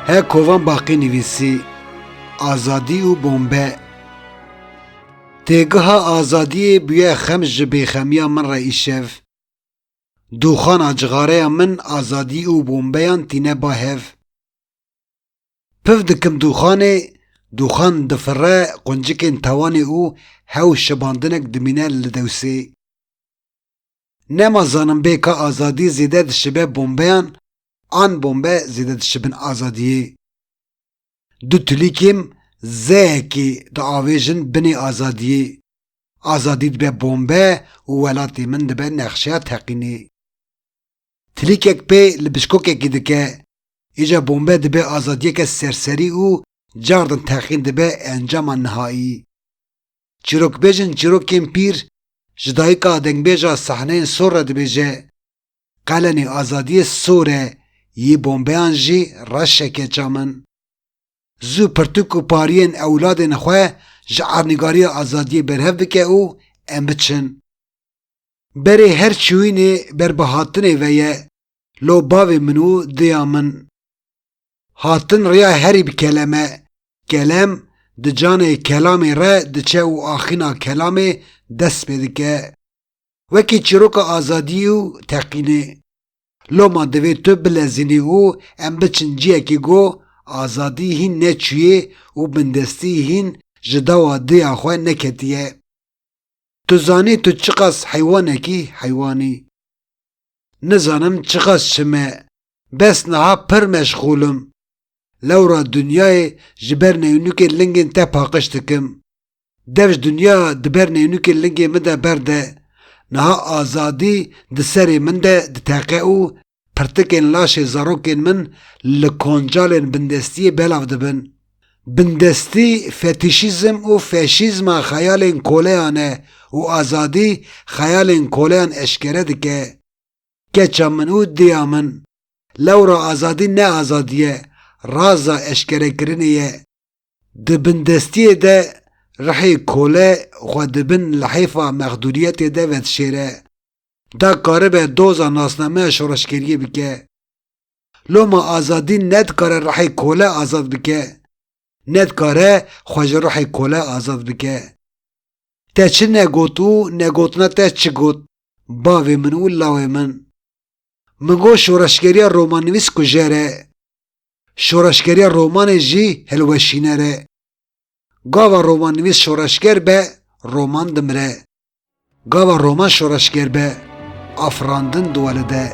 He kovan baqî nivîsî azadî û bombe Têgiha azadiyê bûye xem ji bêxemiya min re îşev. Dûxana cixareya min azadî û bombeyan tîne ba hev. Piv dikim dûxanê, dûxan difire quncikên tewanê û hew şibandinek dimîne li dewsê. Nema zanim bê ka azadî zêde dişibe bombeyan an bombe zêde dişibin azadiyê. Du tilîkêm zeyekê diavêjin binê azadiyê. Azadî dibe bombe û welatê min dibe nexşeya teqînê. Tilîkek pê li bişkokekî dike, îja bombe dibe azadiyeke serserî û cardin teqîn dibe encama nihayî. Çîrokbêjên çîrokên pîr ji dayika dengbêja sahneyên sor re dibêje, Qelenî azadiyê sor e, yî bombeyan jî reş e keça min. Zû pirtûk û pariyên ewladên xwe ji ernîgariya azadiyê berhev bike û em biçin. Berê her çûyînê ber bi hatinê ve ye, lo bavê min û diya min. Hatin riya herî bi kelem e. Kelem di canê kelamê re diçe û axîna kelamê dest pê dike. Wekî çîroka azadiyî û teqînê. Loma divê tu bilezînî û em biçin ciyekî ku azadî hîn neçûyê û bindestî hîn ji dawa diya xwe neketiye. Tu zanî tu çiqas heywanek î heywanî. Nizanim çiqas çime bes niha pir meşxûl im. Lewra dinyayê ji ber neyûnûkê lingên te paqij dikim. Dev ji dinya di ber neyûnûkê lingên min de berde. Niha azadî di serê min de diteqe û Pirtikên laşê zarokên min li koncalên bindestiyê belav dibin. Bindestî fetîşîzm û feşîzma xeyalên koleyan e û azadî xeyalên koleyan eşkere dike. Keça min û diya min. Lewra azadî ne azadî ye, raza eşkerekirinê ye. Di bindestiyê de ruhê kole xwe di bin lihêfa mexdûriyetê de vedişêre. Da karibe doza nasnameya şoreşgeriyê bike. Loma azadî ne dikare ruhê kole azad bike, ne dikare xwe ji ruhê kole azad bike. Te çi negot û negotina te çi got bavê min û lawê min? Min got şoreşgeriya romannivîs kujer e. Şoreşgeriya romanê jî hilweşîner e. Gava romannivîs şoreşger be, roman dimire. Gava roman şoreşger be, afirandin diwelide.